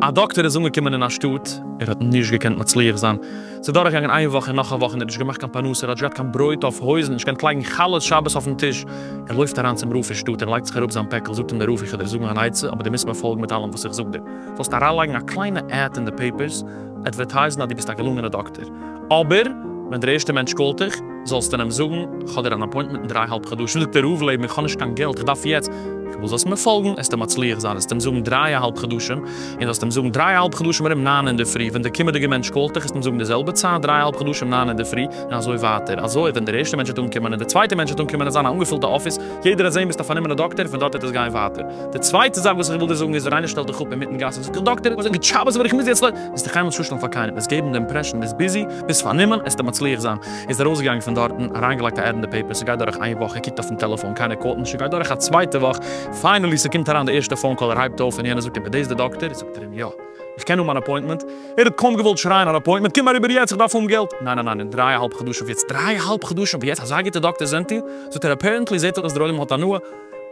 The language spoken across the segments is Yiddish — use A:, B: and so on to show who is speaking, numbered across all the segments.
A: א דאקטער איז אנגעקומען אין א שטאט, ער האט נישט געקענט מצליח זיין, ס'איז דורך געגאנגען איין וואך און נאך א וואך און ער האט נישט געמאכט קיין פרנסה, ער האט נישט געהאט קיין ברויט אויף הויזן, נישט געקענט לייגן חלות שבת אויפן טיש, ער לויפט אריין צום רב פון שטאט און לייגט זיך אראפ זיין פעקל, זאגט אים דער רב איך וועל דיר זאגן אן עצה אבער דו מוזט מיר פאלגן מיט אלעם וואס איך זאג דיר. זאלסט אריינלייגן א קליינע עד אין די פעיפערס, אדווערטייזן אז דו ביסט א געלונגענע דאקטער, אבער ווען דער ערשטער מענטש קאלט דיך, זאלסטו אים זאגן, כ'האב דיר אן אפוינטמענט אין דריי האלב חדשים, זאגט ער, רוב לעבן, איך האב נישט קיין געלט, איך דארף יעצט, כ'וויל זאלסט מיר פאלגן, העסטו מצליח זיין, העסטו אים זאגן דריי אהאלב חדשים, און זאלסט אים זאגן דריי אהאלב חדשים ארום ניין אינדערפרי, ווען דער קומעדיגער מענטש קאלט דיך, העסטו אים זאגן די זעלבע צייט, דריי אהאלב חדשים ניין אינדערפרי, און אזוי ווייטער, אזוי ווען דער ערשטער מענטש וועט אנקומען, און דער צווייטער מענטש וועט אנקומען, און זיין א אנגעפולטע אפיס, יעדער וועט זען ביסט א פארנומענע דאקטער, פון דארט וועט עס גיין ווייטער. די צווייטע זאך וואס איך וויל דיר זאגן איז, ווען איינער שטעלט דיך אפ אינמיטן גאס און זאגט איך דאקטער, כ'האב גוט שבת אבער איך מוז יעצט לויפ. וועסטו קיינמאל נישט צושטעלן פאר קיינעם, וועסט געבן די אימפרעשאן ביסט ביזי, ביסט פארנומען, עסטו מצליח זיין. ער איז ארויסגעגאנגען פון דארטן, אריינגעלייגט א עד אין די פעיפער, ס'גייט דורך איין וואך, ער קוקט אויפן טעלעפאן, קיינער קאלט נישט, ס'גייט דורך א צווייטע וואך, פיינעלי ס'קומט אריין די ערשטע פאון קאל, ער הייבט אויף און יענער זאגט אים, איז דאס די דאקטער? זאגט ער אים, יא. איך קען האבן אן אפוינטמענט? ער האט קוים געוואלט שרייען אן אפוינטמענט, קום אריבער יעצט, איך דארף האבן געלט! ניין ניין ניין, אין דריי אהאלב חדשים יעצט! דריי אהאלב חדשים פון יעצט? אזא גוטע דאקטער זענט איר? זאגט ער, אפערענטלי זעט אויס אז דער עולם האט הנאה,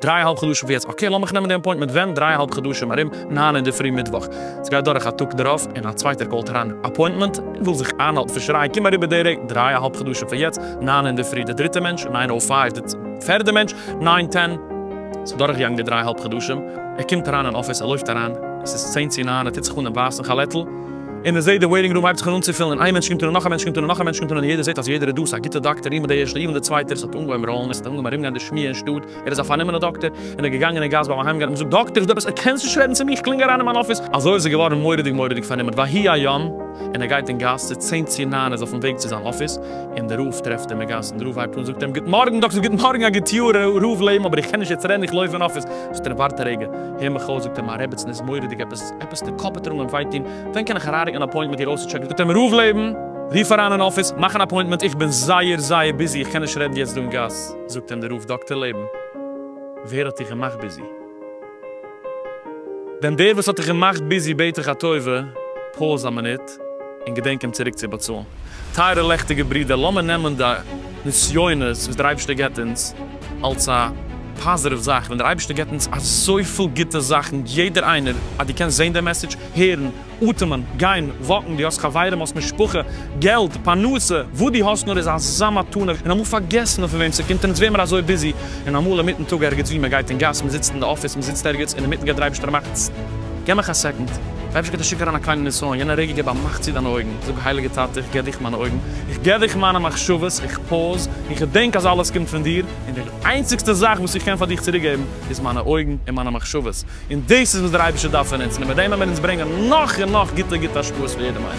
A: דריי אהאלב חדשים פון יעצט, אקעי לאמיך נעמען די אפוינטמענט, ווען? דריי אהאלב חדשים ארום ניין אינדערפרי מיטוואך. סגייט דורך א טאג דערויף, און א צווייטער קאלט אריין, אפוינטמענט? ער וויל זיך איינהאלטן פון שרייען, קום אריבער די רגע, דריי אהאלב חדשים פון יעצט, ניין אינדערפרי, דער דריטער מענטש, ניין אויף פייוו, דער פערדער מענטש, ניין טען. ס'דורכגעגאנגען די דריי אהאלב חדשים. ער קומט אריין אין אפיס, ער לויפט אריין, עס איז צען צו ניין, ער טוט זיך אן דעם ווייסן כאלעטל, און ער זעט די וועיטינג רום הייבט זיך אן אנצופילן, און איין מענטש קומט אן און נאך א מענטש קומט אן און נאך א מענטש קומט אן, און יעדער זעט אז יעדער איז דא, עס איז א גוטע דאקטער, איבן די ערשטע, איבן די צווייטע, עס האט אנגעהויבן ראלן, עס האט אנגעהויבן ארומגיין די שמועה אין שטאט, ער איז א פארנומענע דאקטער, און ער איז געגאנגען אין גאס ביים אהיימגיין האט מען געזאגט דאקטער איז דא עפעס, ער קענסט נישט רעדן צו מיר, איך קלינג אריין אין מיין אפיס, אזוי איז ער געווארן מורא'דיג מורא'דיג פארנומען, ויהי היום, און ער גייט אין גאס, ס'איז צען צו ניין, ער איז אויפן וועג צו זיין אפיס, און דער רב טרעפט אים אין גאס, און דער רב הייבט אן זאגט אים גוט מארגן דאקטער, גוט מארגן א גוט יאר ר' לעבן, אבער איך קען נישט יעצט רעדן, איך לויף אין אפיס. זאגט ער ווארט א רגע, הער מיך אויס זאגט ער מיין רעבעצן איז מורא'דיג עפעס, עפעס די קאפ טאר אנגיין וויי טון, ווען קען איך אריינריקן אן אפוינטמענט מיט איר אויסצוטשעקן, זאגט ער מיר ראובלעבן, רוף אריין אין אפיס, מאך אן אפוינטמענט, איך בין זייער זייער ביזי איך קען נישט רעדן יעצט דא אין גאס, זאגט אים די ראוב דאקטער לעבן, ווער האט דיך געמאכט ביזי? דען דער וואס האט דיך געמאכט ביזי בעט איך א טובה, פאוז א מינוט, געלט און געדענק אים צוריק צו באצאלן. טייערע לעכטיגע ברידער, לאמיר נעמען די נסיונות וואס דער אייבערשטער געבט אונז אלס א פאזיטיוו זאך, ווען דער אייבערשטער געבט אונז אזויפיל גוטע זאכן, יעדער איינער, אז דו קענסט זען די מעסעדזש, הערן, אטעמען, גיין, וואקן, דו האסט חברים, האסט משפחה, געלט, פרנסה, וואס דו האסט נאר איז אזא מתנה, און אמאל פארגעסן מיר פון וועם ס'קומט, און אונז ווערן מיר אזוי ביזי, און אמאל אינמיטן טאג ערגעץ וואו, מען גייט אין גאס, מען זיצט אין די אפיס, מען זיצט ערגעץ, און אינמיטן גייט דער אייבערשטער מאכט, טס, געב מיך א סעקאנד. אפשר קעט איר שיק אריין א קליינע נסיון יענע רגע געב א מאך צי דיינע אויגן זאג הייליגע טאטע איך געב דיך מיינע אויגן איך געב דיך מיינע מחשבות איך פאוז און כ'דענק אז אלעס קומט פון דיר און די איינציגסטע זאך וואס איך קען פאר דיך צוריק געבן איז מיינע אויגן און מיינע מחשבות און דאס איז וואס דער אייבערשטער דארף פון אונז און מיט דעם וועט מען אונז ברענגען נאך און נאך גוטע גוטע השפעות פאר יעדעם איינעם.